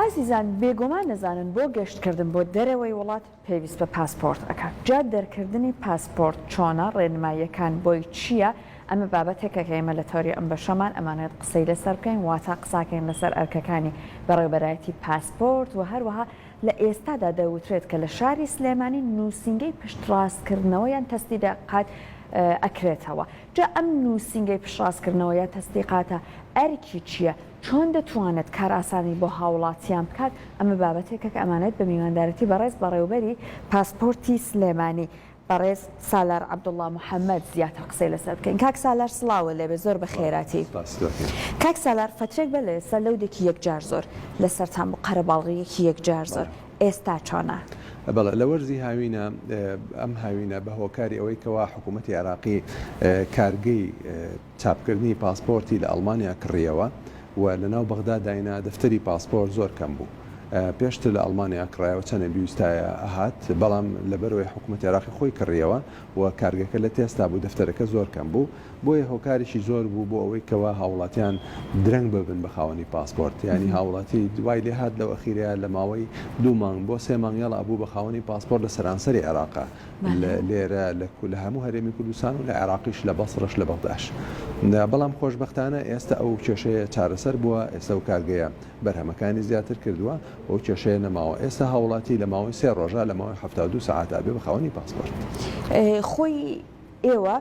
ئازیزان بێگۆمان دەزانن بۆ گەشت کردن بۆ دەرەوەی وڵات پێویست بە پاسپۆرت ئەکات جا دەرکردنی پاسپۆرت چۆنە ڕێنماییەکان بۆی چییە ئەمە بابەتێکە کە ئێمە لە تەوری ئەم بەشەمان ئەمانەوێت قسەی لەسەر بکەین واتا قساکەین لەسەر ئەرکەکانی بەڕێوبەرایەتی پاسپۆرت وە هەروەها لە ئێستادا دەوترێت کە لە شاری سلێمانی نووسینگەی پشتڕاستکردنەوە یان تەسدیدقات ئەکرێتەوە جا ئەم نووسینگەی پشڕاستکردنەوە یا تەسدیقاتە ئەرکی چییە چۆن دەتوانێت کارئاسانی بۆ هاوڵاتیان بکات ئەمە بابەتێکە کە ئەمانێت بە میواندارەتی بەڕێز بەڕێوبەری پاسپۆرتی سلێمانی بەڕێز سالار عبداللە محمد زیاتر قسەی لەسەر بکەین کاک سالار سڵاوو لێبێ زۆر بەخێراتی کاک سالار فترەێک بەر لەێستا لەودێکی یەکجار زۆر لەسەرتان بوو قەرەباڵغیەکی یەکجار زۆر ئێستا چۆنە؟ بەڵێ لەوەرزی هاوینە ئەم هاوینە بەهۆکاری ئەوەی کەوا حکومەتی عێراقی کارگەی. چاپکردنی پاسپۆرتی لە ئەڵمانیا کڕییەوە و لەناو بەغدا داینا، دەفتەری پاسپۆرت زۆر کەم بوو. پێشتر لە ئەڵمانیا کڕایەوە چەنێ بیوستایە ئەهات، بەڵام لەبەرئەوەی حکومەتی عێراقی خۆی کڕییەوە و کارگەکە لە تێستا بوو دەفتەرەکە زۆر کەم بوو، بۆیە هۆکاریشی زۆر بوو بۆ ئەوەی کەوا هاووڵاتیان درەنگ ببن بە خاوەنی پاسپۆرت، یانی هاووڵاتی وای لێهات لەو ئەخیرەیا لە ماوەی دوو مانگ بۆ سێ مانگ یەڵا بوو بە خاوەنی پاسپۆرت لە سەرانسەری عێراقا. لە لێرە لە کو لە هەموو هەرێمی کوردستان و لە عێراقیش لە بەسڕەش لە بەغداش بەڵام خۆشبەختانە ئێستە ئەو کێشەیە چارەسەر بووە ئێستە و کارگەیە بەرهەمەکانی زیاتر کردووە ئەو کێشەیە نەماوە ئێستا هاوڵاتی لە ماوەی سێ ڕۆژە لە ماوەی هەفتا و دوو سەعاتا بێ بە خاوەنی پاسپۆرت خۆی ئێوە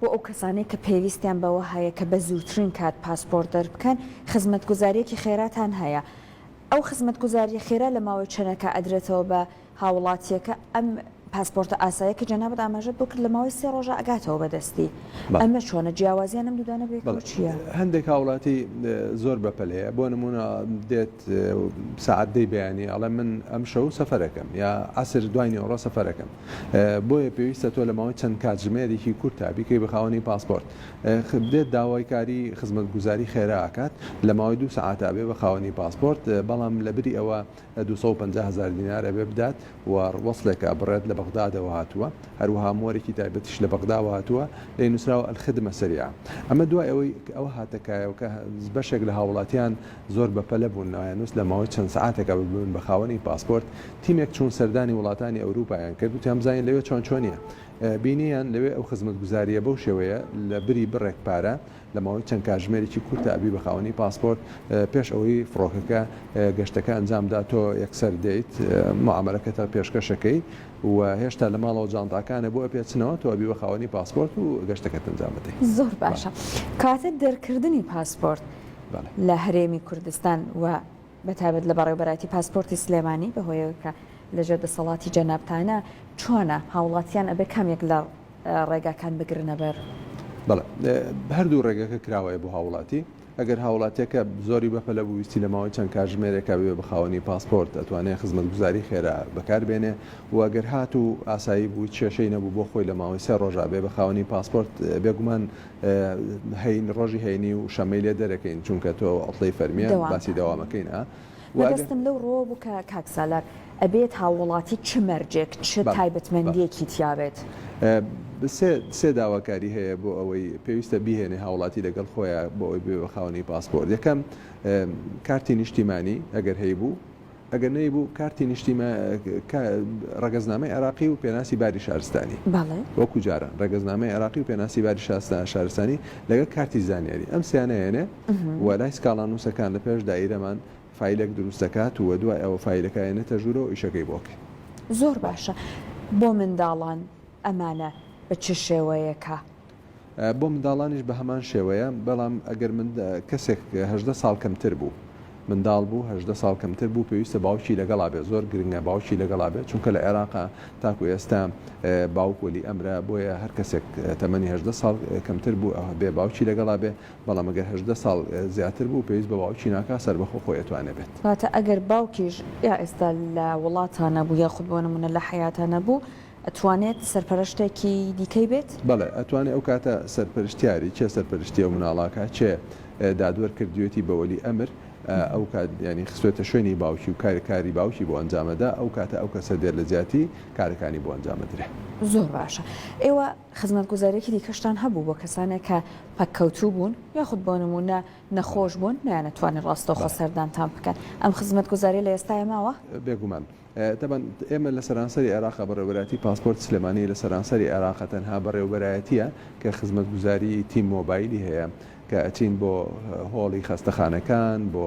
بۆ ئەو کەسانەی کە پێویستیان بەوە هەیە کە بە زووترین کات پاسپۆرت دەربکەن خزمەتگوزاریەکی خێراتان هەیە ئەو خزمەتگوزاریە خێرا لە ماوەی چەنەکە ئەدرێتەوە بە هاوڵاتیەکە ئەم پاسپۆرتە ئاسایە کە جەنابت ئاماژەت بۆ کرد لە ماوەی سێ ڕۆژا ئەگاتەوە بە دەستی ئەمە چۆنە جیاوازیان ئەم دوودانە بێ چیە هەندێک هاوڵاتی زۆر بەپەل هەیە بۆ نمونە دێت سعات دەی بەیانی ئەڵێ من ئەم شەو سەفەرەکەم یا عسر دوای نێوەڕۆ سەفەرەکەم بۆیە پێویستە تۆ لە ماوەی چەند کاتژمێرێکی کورتا بیکەی بە خاوەنی پاسپۆرت دێت داوای کاری خزمەت گوزاری خێرا ئەکات لە ماوەی دوو سعاتا بێ بە خاوەنی پاسپۆرت بەڵام لە بری ئەوە دوو سەد و پەنجا هەزار دینار ئەبێ بدات و وەسڵێکە بڕێت لە بەغدادەوە هاتووە، هەروەها مۆرێکی تایبەتیش لە بەغداوە هاتووە لێی نووسراوە الخدمە سریعە. ئەمە دوای ئەوەی ئەوە هاتە کایەوە کە بەشێک لە هاووڵاتییان زۆر بەپەلە بوون نایانوست لە ماوەی چەند سەعاتێکا ببن بە خاوەنی پاسپۆرت، تیمێک چوون سەردانی وڵاتانی ئەورووپایان کرد وتیان بزانین لەوێ چۆن چۆنییە. بینییان لەوێ ئەو خزمەتگوزارییە بەو شێوەیە لە بری بڕێک پارە لە ماوەی چەند کاتژمێرێکی کورتا ئەبی بە خاوەنی پاسپۆرت، پێش ئەوەی فڕۆکەکە گەشتەکە ئەنجام بدات تۆ یەکسەر دێیت موعامەلەکەتە پێشکەش ئەکەی و هێشتا لە ماڵەوە جانتاکانە بۆ ئەپێچنەوە تۆ ئەبی بە خاوەنی پاسپۆرت و گەشتەکەت ئەنجام بدەی. زۆر باشە کاتە دەرکردنی پاسپۆرت لە هەرێمی کوردستان و بە تایبەت لە بەڕێوەبەرایەتی پاسپۆرتی سلێمانی بە هۆیەوەی کە لە ژێر دەسەڵاتی جەنابتانە چۆنە هاوڵاتیان ئەبێ کام یەک لە ڕێگاکان بگرنە بەر؟ بەڵێ هەردوو ڕێگەکە کراوەیە بۆ هاوڵاتی ئەگەر هاوڵاتیەکە زۆری بەپەلە بوو ویستی لە ماوەی چەند کاژمێرێکا بێ بە خاوەنی پاسپۆرت ئەتوانێت خزمەت گوزاری خێرا بەکار بێنێ وەگەر هات و ئاسایی بوو چێشەی نەبوو بۆ خۆی لە ماوەی سێ ڕۆژابێ بە خاوەنی پاسپۆرت بێگومان هەین ڕۆژی هەینی و شەمەی لێ دەرەکەین چونکە تۆ عوتڵەی فەرمیە باسی دەوامەکەین ئا وە ئەگەر. مەبەستم لەو ڕووەوە بوو کە کاک سالار ئەبێت هاووڵاتی چ مەرجێک چ تایبەتمەندیەکی تیا بێت؟ سێ سێ داواکاری هەیە بۆ ئەوەی پێویستە بیهێنێ هاوڵاتی لەگەڵ خۆیە بۆ ئەوەی ببێ بە خاوەنی پاسپۆرت یەکەم کارتی نیشتیمانی ئەگەر هەیبوو، ئەگەر نەیبوو کارتی نیشتیما کا ڕەگەزنامەی عێراقی و پێناسی باری شارستانی بەڵێ. وەکو جاران ڕەگەزنامەی عێراقی و پێناسی باری شاستا شارستانی لەگەڵ کارتی زانیاری ئەم سێیانە هێنێ ئه و لای سکاڵانووسەکان لە پێش دایرەمان فایلێک دروست دەکات و دوای ئەوە فایلەکە ئەیەنێتە ژوورەوە ئیشەکەی بۆ کە. زۆر باشە بۆ منداڵان ئەمانە بە چ شێوەیەکە؟ بۆ منداڵانیش بە هەمان شێوەیە بەڵام ئەگەر من کەسێک هەدە ساڵ کەمتر بوو منداڵ بوو هەدە ساڵ کەمتر بوو پێویستە باوکی لەگەڵا بێ زۆر گرنگە باوکی لەگەڵا بێت چونکە لە عێراقا تاکو ئێستا باوک وەلی ئەمرە بۆیە هەر کەسێک تەمەنی هەدە ساڵ کەمتر بوو بێ باوکی لەگەڵا بێ بەڵام ئەگەر هەدە ساڵ زیاتر بوو پێویست بە باوکی ناکا سەر بەخۆ خۆیتوانێ بێت واتە ئەگەر باوکیش یا ئێستا لە وڵاتانە بوو یا خود بۆ نمونە لە حیاتە نەبوو ئەتوانێت سەرپەرەشتێکی دیکەی بێت؟ بەڵێ ئەتوانێ ئەو کاتە سەرپەرشتیاری کێ سەرپەرشتی ئەو مناڵاکە کێ دادوەر کردوێتی بە وەلی ئەمر ئەو کات یانی خستوێتە شوێنی باوکی و کاری کاری باوکی بۆ ئەنجام ئەدا ئەو کاتە ئەو کەسە دێت لە جیاتی کارەکانی بۆ ئەنجام ئەدرێ. زۆر باشە ئێوە خزمەتگوزاریەکی دیکەشتان هەبوو بۆ کەسانێک کە پەککەوتوو بوون یاخود بۆ نموونە نەخۆش بوون نەیانەتوانی ڕاستەوخۆ سەردانتان بکەن ئەم خزمەتگوزاریە لە ئێستایە ماوە؟ بێگومان تەبەن ئێمە لە سەرانسەری عێراقە بەڕێوەبەرایەتی پاسپۆرت سلێمانی لە سەرانسەری عێراقە تەنها بەڕێوەبەرایەتیە کە خزمەتگوزاری تی مۆبایلی هەیە کە ئەچین بۆ هۆڵی خەستەخانەکان بۆ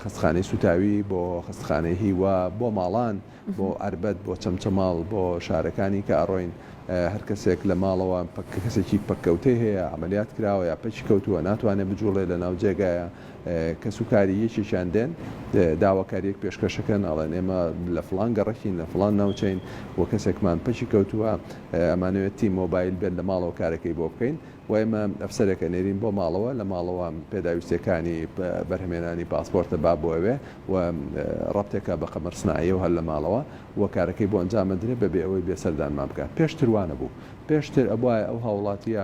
خەستخانەی سوتاوی بۆ خەستخانەی هیوا بۆ ماڵان بۆ ئەربەت بۆ چەمچەماڵ بۆ شارەکانی کە ئەڕۆین هەر کەسێک لە ماڵەوە پک کەسێکی پککەوتەی هەیە عملیات کراوە یا پەکی کەوتووە ناتوانێت بجوڵێ لە ناو جێگایە کەسوکاری یەکێکیان دێن داواکاریەک پێشکەشەکەن ئەڵێن ئێمە لە فلان گەڕەکین لە فلان ناوچەین و کەسێکمان پەکی کەوتووە ئەمانەوێت تی مۆبایل بێت لە ماڵەوە کارەکەی بۆ بکەین و ئێمە ئەفسەرێکە نێرین بۆ ماڵەوە لە ماڵەوە پێداویستەکانی بەرهمێنانی پاسپۆرتە با بۆ ئەوێ و ڕەبتێکە بە قەمەر سناعیە و هەر لە ماڵەوە و کارەکەی بۆ ئەنجامەدرێ بەبێ ئەوەی بێسەردانمان بکە پێشتروانە بوو پێشتر ئەبواە ئەو هاوڵاتیە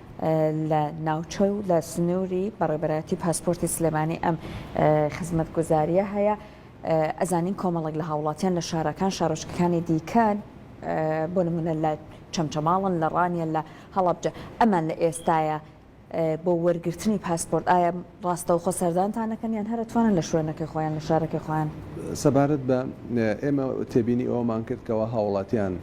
لە ناوچە و لە سنووری بەڕێبەرایەتی پاسپۆرتی سلێمانی ئەم خزمەت گوزاریە هەیە ئەزانین کۆمەڵک لە هاوڵاتیان لە شارەکان شارۆچکەکانی دیکەن بۆ نمونە لە چەمچەماڵن لە ڕانیە لە هەڵبجە ئەمان لە ئێستاە بۆ وەرگرتنی پاسپۆرت ئایا ڕاستەوخۆ سەردانتانەکەن یان هەرە توانن لە شوێنەکە خۆیان لە شارەکە خۆیان سەبارەت بە ئێمە تێبینی ئەومان کرد کەەوە هاوڵاتیان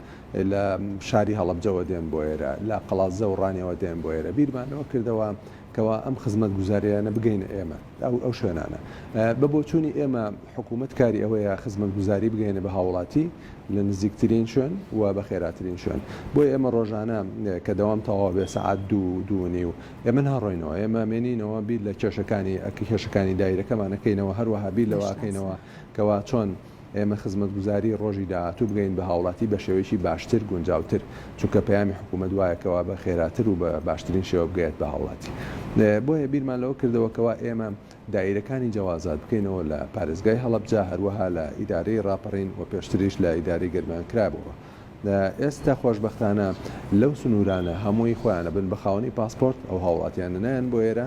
لە شاری هەڵەبجەوە دێن بۆ ئێرە، لە قەڵادزە و ڕانیەوە دێن بۆ ئێرە، بیرمان لەوە کردەوە کەوا ئەم خزمەتگوزارییانە بگەینە ئێمە، ئەو ئەو شوێنانە. بە بۆچوونی ئێمە حکوومەت کاری ئەوەیە خزمەتگوزاری بگەیەنێ بە هاووڵاتی لە نزیکترین شوێن و بە خێراترین شوێن. بۆیە ئێمە ڕۆژانە کە دەوام تەواو بێ سەعات دوو، دوو و نیو ئێمە ناڕۆینەوە، ئێمە مێنینەوە بیر لە کێشەکانی کێشەکانی دایرەکەمان ئەکەینەوە، هەروەها بیر لەوە ئەکەینەوە کەوا چۆن، ئێمە خزمەتگوزاری ڕۆژی داهاتوو بگەین بە هاوڵاتی بە شێوەیەکی باشتر گونجاوتر چونکە پەیامی حکومەت وایە کەوا بە خێراتر و بە باشترین شێوە بگەیەت بە هاوڵاتی بۆیە بیرمان لەوە کردەوە کەوا ئێمە دایرەکانی جەوازات بکەینەوە لە پارێزگای هەڵەبجە هەروەها لە ئیدارەی ڕاپەڕین و پێشتریش لە ئیدارەی گەرمیان کرابووە ئێستا خۆشبەختانە لەو سنوورانە هەمووی خۆیانە بن بە خاوەنی پاسپۆرت ئەو هاوڵاتیانە نایەن بۆ ئێرە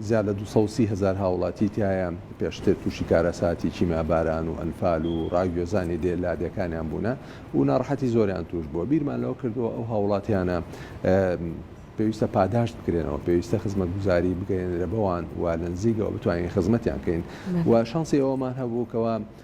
زیاد لە دوو سەد و سی هەزار هاوڵاتی تیایە پێشتر تووشی کارەساتی کیمیا باران و ئەنفال و ڕاگوێزانی دێ لادێکانیان بوونە و ناڕحەتی زۆریان توش بووە بیرمان لەوە کردووە ئەو هاوڵاتیانە پێویستە پاداشت بکرێنەوە پێویستە خزمەت گوزاری بگەێنرە بەوان و لە نزیکەوە بتوانین خزمەتیان کەین و شانسی ئەومان هەبوو کەەوە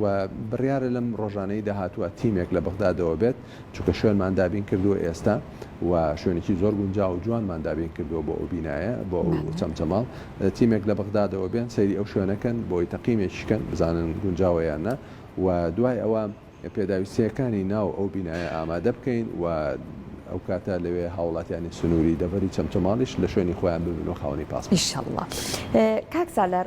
و بڕیارە لەم ڕۆژانەی داهاتووە تیمێک لە بەغدادەوە بێت چونکە شوێنمان دابین کردووە ئێستا و شوێنێکی زۆر گونجا و جوانمان دابین کردووە بۆ ئەو بینایە بۆ چەمچەماڵ تیمێک لە بەغدادەوە بێن سەیری ئەو شوێنەکەن بۆی تەقیمێکیکەن بزانن گونجاوەیانە و دوای ئەوە پێداویستیەکانی ناو ئەو بینایە ئامادە بکەین و ئەو کاتە لەوێ هاوڵاتیانی سنووری دەبەری چەمچەماڵیش لە شوێنی خۆیان ببن و خاونی پاس ئیشله کاک سالار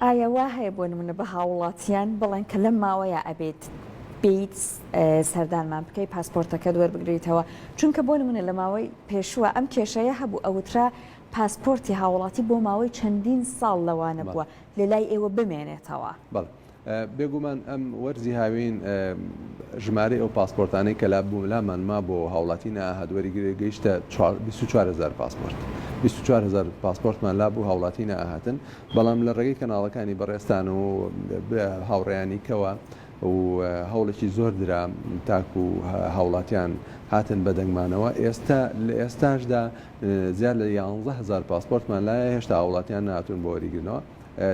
ئایا وا هەیە بۆ نمونە بە هاووڵاتیان بڵێن کە لەم ماوەیە ئەبێت بیت سەردانمان بکەی پاسپۆرتەکەت وەربگریتەوە چونکە بۆ نمونە لە ماوەی پێشووە ئەم کێشەیە هەبوو ئەوترا پاسپۆرتی هاوڵاتی بۆ ماوەی چەندین ساڵ لەوانە بووە لە لای ئێوە بمێنێتەوە. بێگومان ئەم وەرزی هاوین ژمارەی ئەو پاسپۆرتانەی کە لابوولامان ما بۆ هاوڵاتی ناهات وەریگرێ گەیشتە 24هزار پاسپۆرت 24هزار پاسپۆرتمان لابوو هاوڵاتی ناهاتن بەڵام لە ڕێگەی کەناڵەکانی بەڕێستان و هاوڕێیانی کەوە و هەوڵێکی زۆر درا تاکو هاوڵاتیان هاتن بە دەنگمانەوە ئێستا لە ئێستاشدا زیاد لە 11هزار پاسپۆرتمان لایە هێشتا هاوڵاتیان ناتون بۆ وەریگرنەوە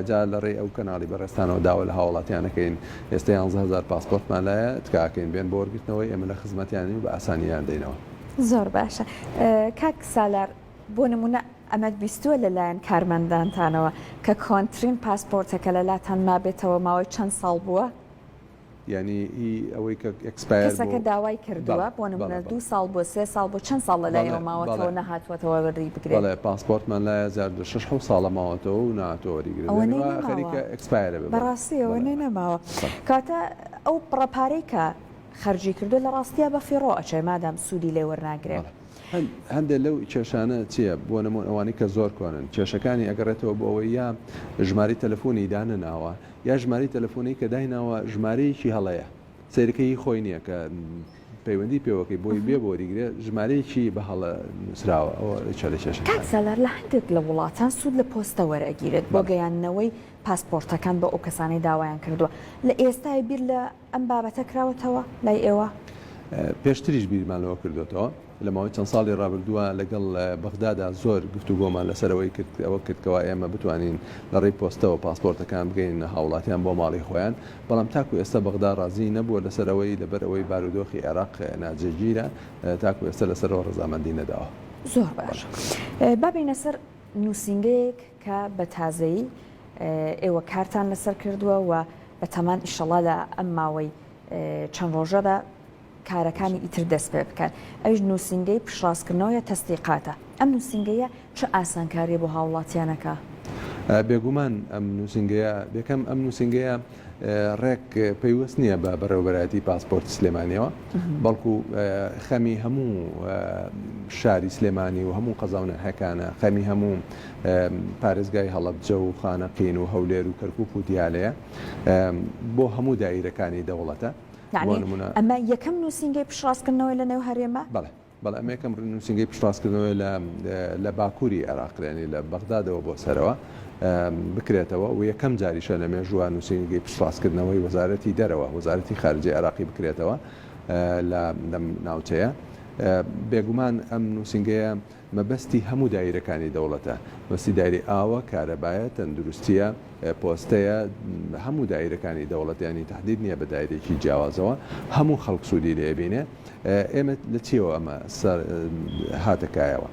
جا لە ڕێی ئەو کەناڵی بەڕێزتانەوە داوا لە هاوڵاتیان ئەکەین ئێستە یانزە هەزار پاسپۆرتمان لایە تکا ئەکەین بێن بۆ وەرگرتنەوەی ئێمە لە خزمەتیانین و بە ئاسانی لێیان دەینەوە. زۆر باشە کاک سالار بۆ نمونە ئەمەت بیستووە لە لایەن کارمەندانتانەوە کە کۆنترین پاسپۆرتەکە لە لاتان مابێتەوە ماوەی چەند ساڵ بووە؟ یانی ئی ئەوەی کە ئێکسپایەر بوو. کەسەکە داوای کردووە بۆ نموونە دوو ساڵ بووە سێ ساڵ بووە چەند ساڵ لە لایەوە ماوەتەوە نەهاتووەتەوە وەری بگرێ؟ بەڵێ پاسپۆرتمان لایە جار دو شەش حەوت ساڵە ماوەتەوە و نەهاتووە وەری گرێ یانی وا خەریکە ئێکسپایەرە بێ بەڵێ. بەڕاستی ئەوە نوێ نەماوە کەواتە ئەو بڕە پارەی کە خەرجی کردووە لە ڕاستیا بە فیڕۆ ئەچێ مادام سوودی لێ وەرناگرێ. بەڵێ هەندێ لەو کێشانە چییە بۆ نموون ئەوانەی کە زۆر کۆنن کێشەکانی ئەگەڕێتەوە بۆ ئەوەی یا ژمارەی تەلەفوونی دانەناوە یا ژمارەی تەلەفۆنەی کە دایناوە ژمارەیەکی هەڵەیە سەیرەکە هی خۆی نییە کە پەیوەندی پێوەکەی بۆی بێ بۆ وەریگرێ ژمارەیەکی بە هەڵە نووسراوە ئەوە چەلە کێشە کاک سالار لە هەندێک لە وڵاتان سوود لە پۆستە وەرئەگیرێت بۆ گەیاندنەوەی پاسپۆرتەکان بۆ ئەو کەسانەی داوایان کردووە لە ئێستای بیر لە ئەم بابەتە کراوەتەوە لای ئێوە؟ پێشتریش بیرمان لەوە کردۆتەوە. لە ماوەی چەند ساڵی ڕابردووە لەگەڵ بەغدادا زۆر گفتوگۆمان لەسەر ئەوەی کرد ئەوە کرد کەوا ئێمە بتوانین لە ڕێی پۆستەوە پاسپۆرتەکان بگەیننە هاوڵاتیان بۆ ماڵی خۆیان بەڵام تاکو ئێستا بەغدا ڕازی نەبووە لەسەر ئەوەی لەبەر ئەوەی بارودۆخی عێراق ناجێگیرە تاکو ئێستا لەسەرەوە ڕەزامەندی نەداوە. زۆر باش با بێینە سەر نووسینگەیەک کە بە تازەیی ئێوە کارتان لەسەر کردووە و بەتەمان ئیشەڵا لە ئەم ماوەی چەند ڕۆژەدا کارەکانی ئیتر دەست پێ بکەن ئەویش نووسینگەی پشتڕاستکردنەوەیە تەسدیقاتە ئەم نووسینگەیە چ ئاسانکاریە بۆ هاوڵاتیانەکا؟ بێگومان ئەم نووسینگەیە بێکەم ئەم نووسینگەیە ڕێک پەیوەست نییە بە بەڕێوەبەرایەتی پاسپۆرتی سلێمانیەوە بەڵکو خەمی هەموو شاری سلێمانی و هەموو قەزاونەهەکانە خەمی هەموو پارێزگای هەڵبجە و خانەقین و هەولێر و کەرکک و دیالەیە بۆ هەموو دایرەکانی دەوڵەتە ئەمە یەکەم نووسینگەی پشڕاستکردنەوەی لە نێو هەرێمە؟ بەڵێ ئەمە یەکەم نوسینگەی پشتڕاستکردنەوەیە لە لە باکوری عێراق یانی لە بەغدادەوە بۆ سەرەوە بکرێتەوە و یەکەم جاریشە لە مێژووە نوسینگەی پشتڕاستکردنەوەی وەزارەتی دەرەوە وەزارەتی خارجی عێراقی بکرێتەوە لە لەم ناوچەیە بێگومان ئەم نووسنگەیە مەبەستی هەموو دایرەکانی دەوڵەتە بەسی دایری ئاوە کارەبایە تەندروستیە پۆستەیە هەموو دایرەکانی دەوڵەتیانی تهدید نییە بە دایرێکی جیاوازەوە هەموو خەڵک سوودی لێبینێ ئێمە لە چیەوە ئەمە هاتەکایەوە؟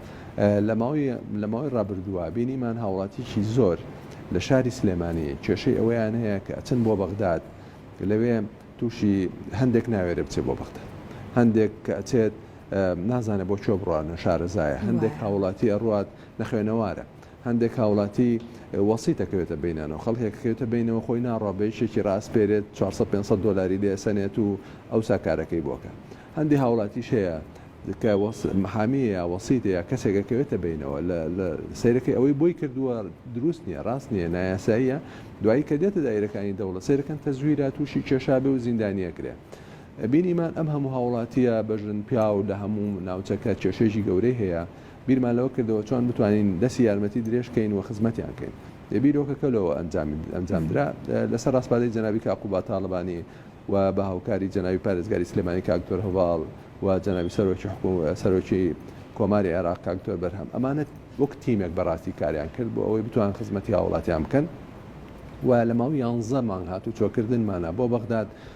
لە ماوەی لە ماوەی ڕابردووە بینیمان هاوڵاتیکی زۆر لە شاری سلێمانی کێشەی ئەوەیان هەیە کە ئەچن بۆ بەغداد لەوێ تووشی هەندێک ناوێرە بچێت بۆ بەغداد هەندێک کە ئەچێت نازانێت بۆ چۆ بڕوانە شارەزایە هەندێک هاوڵاتی ئەڕات نەخوێنەوارە هەندێک هاوڵاتی وەسیت ئەکەوێتە بینانەوە، خەڵکێک ئەکەوێتە بینەوە خۆی ناڕوا بە یەکێکی رائەسپێرێت چوار سەد پێنج سەد دۆلاری لێ ئەسەنێت و ئەوسا کارەکەی بۆ ئەکا. هەندێ هاوڵاتیش هەیە کە محامیە یا وەسیتە یا کەسێک ئەکەوێتە بینەوە لە لە سەیرەکەی ئەوەی بۆی کردووە دروست نیە راست نیە نایاساییە دوایی کە دێتە دایرەکانی دەوڵەت سەیرەکەن تەزویرە تووشی کێشابێ و زیندانی ئەکرێ. بینیمان ئەم هەموو هاوڵاتیە بەژن پیاو لە هەموو ناوچەکە کێشەیەکی گەورەی هەیە، بیرمان لەوە کردەوە چۆن بتوانین دەستی یارمەتی درێژ کەین و خزمەتیان کەین. لە بیرۆکەکە لەوە ئەنجام درا. لە سەر ڕاسپاردەی جەنابی کاک قوباد تاڵەبانی و بە هاوکاری جەنابی پارێزگاری سلێمانی کاک دکتۆر هەڤاڵ و جەنابی سەرۆکی کۆماری عێراق کاک دکتۆر بەرهەم ئەمانە وەک تیمێک بە ڕاستی کاریان کرد بۆ ئەوەی بتوان خزمەتی هاوڵاتیان بکەن و لە ماوەی یانزە مانگ هاتوچۆ کردنمانە بۆ بەغداد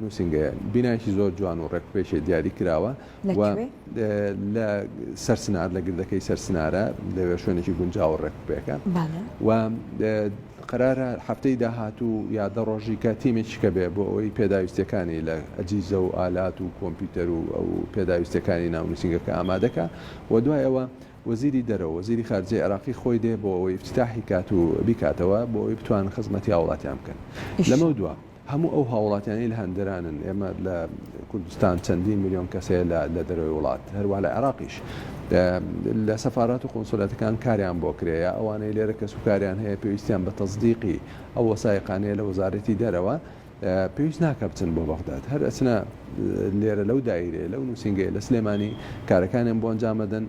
نووسینگەیە بینایەکی زۆر جوان و ڕێکوپێکێ دیاری کراوە و لە سەرسنار لە گردەکەی سەرسنارە لەوێ شوێنێکی گونجاوە ڕێکوپێکە و قەرارە هەفتەی داهاتوو یا دە ڕۆژی کە تیمێکی کە بێ بۆ ئەوەی پێداویستەکانی لە ئەجیزە و ئالات و کۆمپیوتەر و ئەو پێداویستەکانی ناو نووسینگەکە ئامادەکە و دوای ئەوە وەزیری دەرەوە وەزیری خارجەی عێراقی خۆی دێ بۆ ئەوەی ئیفتیتاحی کات و بیکاتەوە بۆ ئەوەی بتوانن خزمەتی هاوڵاتیان بکەن لەمەو دوا هەموو ئەو هاوڵاتیانەی لە هەندەرانن ئێمە لە کوردستان چەندین ملیۆن کەس هەیە لە لە دەرەوەی وڵات هەروا لە عێراقیش لە سەفارات و قونسولەتەکان کاریان بۆ کرێ یا ئەوانەی لێرە کەس و کاریان هەیە پێویستیان بە تەزدیقی ئەو وەسایقانەیە لە وەزارەتی دەرەوە پێویست ناکا بچن بۆ بەغداد هەر ئەچنە لێرە لەو دایرەیە لەو نووسینگەیە لە سلێمانی کارەکانیان بۆ ئەنجام ئەدەن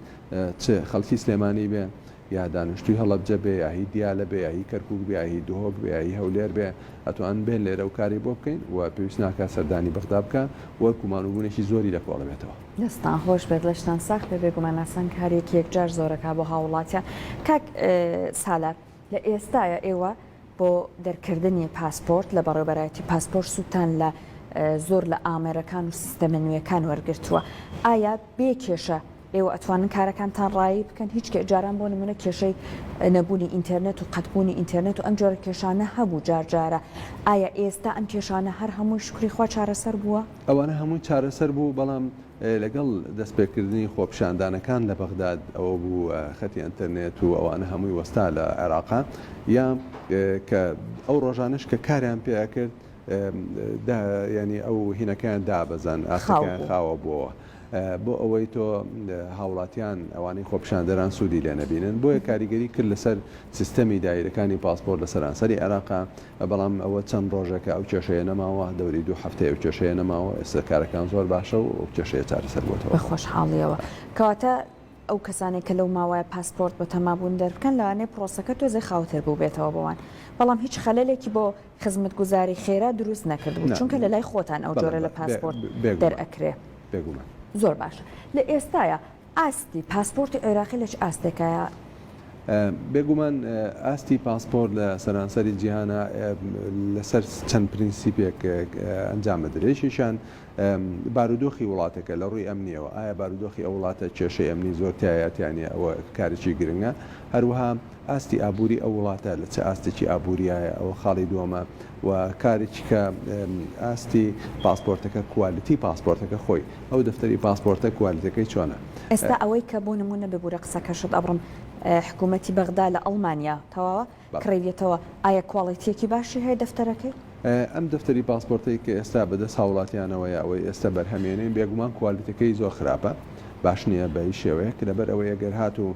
چ خەڵکی سلێمانی بێ یا دانیشتووی هەڵەبجە بێ یا هی دیالە بێ یا هی کەرکووک بێ یا هی دهۆک بێ یا هی هەولێر بێ ئەتوان بێن لێرە و کاری بۆ بکەین و پێویست ناکا سەردانی بەغدا بکا و گومانوبوونێکی زۆری لە کۆڵەبێتەوە. دەستتان خۆش بێت لەشتان ساخ بێ بێگومان ئاسان کارێکی یەکجار زۆرەکا بۆ هاووڵاتیان کاک سالار. لە ئێستایا ئێوە بۆ دەرکردنی پاسپۆرت لە بەڕێوەبەرایەتی پاسپۆرت سوودتان لە زۆر لە ئامێرەکان و سیستەمە نوێکان وەرگرتووە ئایا بێ کێشە ئێوە ئەتوانن کارەکانتان ڕایی بکەن هیچ کێ جاران بۆ نمونە کێشەی نەبوونی ئینتەرنێت و قەتبوونی ئینتەرنێت و ئەم جۆرە کێشانە هەبوو جارجارە ئایا ئێستا ئەم کێشانە هەر هەمووی شکری خوا چارەسەر بووە؟ ئەوانە هەمووی چارەسەر بوو بەڵام لەگەڵ دەستپێکردنی خۆپیشاندانەکان لە بەغداد ئەوە بوو خەتی ئەنتەرنێت و ئەوانە هەمووی وەستا لە عێراق یا کە ئەو ڕۆژانش کە کاریان پێ ئەکرد ینی ئەو هینەکەیان دابەزان ئاسەکەیان خاوە بووەوە بۆ ئەوەی تۆ هاوڵاتیان ئەوانەی خۆپشاندەران سوودی لێ نەبینن بۆیە کاریگەری کرد لەسەر سیستەمی دایرەکانی پاسپۆر لە سەرانسەری عێراقا بەڵام ئەوە چەند ڕۆژێکە ئەو کێشەیە نەماوە، دەوری دوو هەفتەیە ئەو کێشەیە نەماوە، ئێستا کارەکان زۆر باشە و ئەو کێشەیە چارەسەر بۆتەوە. بە خۆشحاڵییەوە. کەواتە ئەو کەسانەی کە لەو ماوەیە پاسپۆرت بە تەما بوون دەربکەن، لەوانەیە پرۆسەکە تۆزێ خاوتر بووبێتەوە بۆوان، بەڵام هیچ خەلەلێکی بۆ خزمەتگوزاری خێرا دروست نەکردبوو، چونکە لەلای خۆتان ئەو جۆرە لە پاسپۆرت دەرئەکرێ. بێگومان. زۆر باشە. لە ئێستایا ئاستی پاسپۆرتی عێراقی لە چ ئاستێکایە؟ بێگومان ئاستی پاسپۆرت لە سەرانسەری جیهانە لەسەر چەند پرینسیپێک ئەنجام بدرێت یەکێکیان بارودۆخی وڵاتەکە لە ڕووی ئەمنیەوە ئایا بارودۆخی ئەو وڵاتە کێشەی ئەمنی زۆر تایەتیانە ئەوە کارێکی گرنگە هەروەها ئاستی ئابووری ئەو وڵاتە لە چ ئاستێکی ئابووریایە ئەوە خاڵی دووەمە و کارێکی کە ئاستی پاسپۆرتەکە کوالیتی پاسپۆرتەکە خۆی ئەو دەفتەری پاسپۆرتە کوالیتەکەی چۆنە؟ ئێستا ئەوەی کە بۆ نموونە ببورە قسەکەشت ئەبڕم حکوومەتی بەغدا لە ئەڵمانیا تەواوە کڕیویەتەوە ئایا کواڵێتیەکی باشی هەیە دەفتەرەکەی؟ ئەم دەفتەری پاسپۆرتەی کە ئێستا بەدەست هاوڵاتیانەوەیە ئەوەی ئێستا بەرهەمێنین بێگومان کوالیتەکەی زۆر خراپە باش نییە بە هیچ شێوەیەک لەبەر ئەوەی ئەگەر هاتوو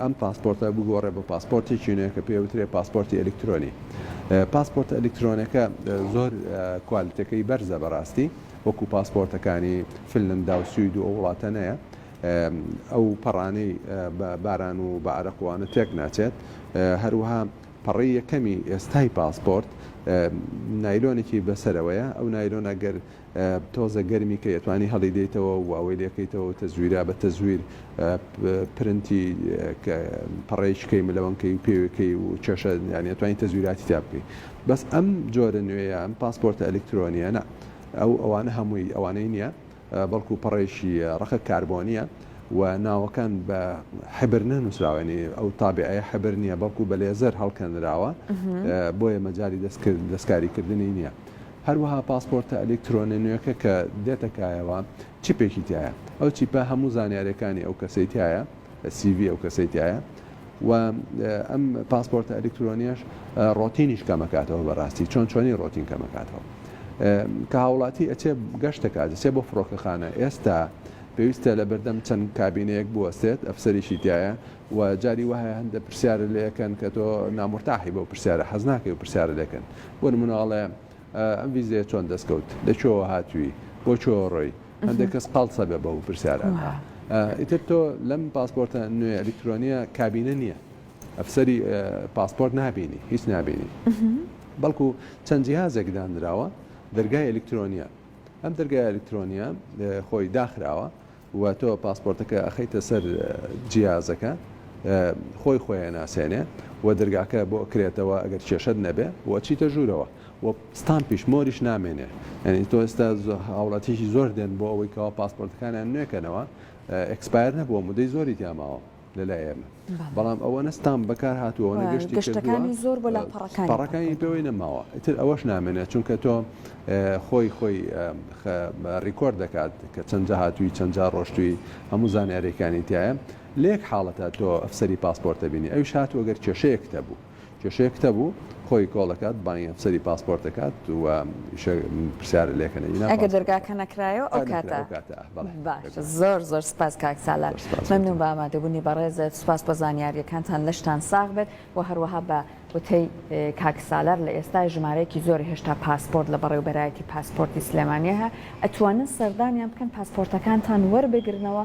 ئەم پاسپۆرتە بگۆڕێ بە پاسپۆرتێکی نوێ کە پێ وترێ پاسپۆرتی ئەلکترۆنی پاسپۆرتە ئەلکترۆنەکە زۆر کوالیتەکەی بەرزە بەڕاستی وەکو پاسپۆرتەکانی فنلندا و سوید و ئەو وڵاتە نەیە ئەو پەڕانەی باران و بە عرەقوانە تێک ناچێت هەروها پەڕی یەکەمی ئێستای پاسپۆرت نایلۆنێکی بەسەرەوەیە ئەو نایلۆنە گەر تۆزە گەرمی کەی ئەتوانی هەڵی دەیتەوە و ئەوەی لێکەیتەوە و تەزویرا بە تەزویر پرنتی کە پەڕەیەکی کەی ملەوەن کەی و پێوێ کەی و چەشە یانی ئەتوانی تەزویراتی تیا بکەی بەس ئەم جۆرە نوێیە ئەم پاسپۆرتە ئەلیکترۆنیە نا ئەو ئەوانە هەمووی ئەوانەی نیە بەڵکو پەڕەیەکی ڕەقە کاربۆنیە و ناوەکان بە حبر نەنووسراوە یانی ئەو تابعەیە حبر نیە بەڵکو بە لێزەر هەڵکەنراوە بۆیە مەجالی دەستکرد دەستکاری کردنی نیە هەروەها پاسپۆرتە ئەلیکترۆنیە نوێکە کە دێتە کایەوە چیپێکی تیایە ئەو چیپە هەموو زانیاریەکانی ئەو کەسەی تیایە سی ڤی ئەو کەسەی تیایە و ئەم پاسپۆرتە ئەلیکترۆنیەش ڕۆتینیش کەمەکاتەوە بەڕاستی چۆن چۆنی ڕۆتین کەمەکاتەوە کە هاوڵاتی ئەچێ گەشتەکات دەچێ بۆ فڕۆکەخانە ئێستا پێویستە لە بەردەم چەند کابینەیەک بوەستێت ئەفسەریشی تایە و جاری وایە هەندێ پرسیارت لێ ئەکەن کە تۆ نامورتاحی بەو پرسیارە حەز ناکەی و پرسیارت لێ کەن بۆ نمونە ئەڵێ ئەم ڤیزەیە چۆن دەست کەوت لە کوێوە هاتووی بۆ کوێوە ڕۆی هەندێک کەس قاڵسە بێ بەو پرسیارانە ئیتر تۆ لەم پاسپۆرتە نوێ ئەلیکترۆنیە کابینە نییە ئەفسەری پاسپۆرت نابینی هیچ نابینی بەڵکو چەند جیهازێک دانراوە دەرگای ئەلیکترۆنیە ئەم دەرگای ئەلیکترۆنیە خۆی داخراوە وە تۆ پاسپۆرتەکە ئەخەیتە سەر جیازەکە خۆی خۆی ئەناسێنێ وە دەرگاکە بۆ ئەکرێتەوە ئەگەر کێشەت نەبێ وە ئەچیتە ژوورەوە وە ستامپیش مۆریش نامێنێ یانی تۆ ئێستا هاوڵاتیشی زۆر دێن بۆ ئەوەی کەوا پاسپۆرتەکانیان نوێکەنەوە ئێکسپایر نەبووە مدەی زۆری تیاماوە لەلای ئێمە بەڵام ئەوەنە ستام بەکار هاتووە ئەوەنە گەشتی کردووە گەشتەکانی زۆر بۆ لە پەڕەکانی پەڕەکانی پێوەی نەماوە ئیتر ئەوەش نامێنێت چونکە تۆ خۆی خۆی ڕیکۆرد دەکات کە چەند جا هاتووی چەند جا ڕۆشتووی هەموو زانیاریەکانی تایە لە یەک حاڵەتە تۆ ئەفسەری پاسپۆرتە بینی ئەویش هاتووە گەر کێشەیەک هەبوو کێشەیە کتە بوو خۆی کۆڵ دەکات بانگی ئەفسەری پاسپۆرت دەکات و پرسیار لێکەنە ئینا ئەگەر دەرگاکە نەکرایەوە ئەو کاتە باشە زۆر زۆر سپاس کاک سالار مەمنون بە ئامادەبوونی بەڕێزت سپاس بۆ زانیاریەکانتان لەشتان ساغ بێت و هەروەها بە وتەی کاک سالار لە ئێستا ژمارەیەکی زۆر هێشتا پاسپۆرت لە بەڕێوبەرایەتی پاسپۆرتی سلێمانیه ئەتوانن سەردانیان بکەن پاسپۆرتەکانتان وەربگرنەوە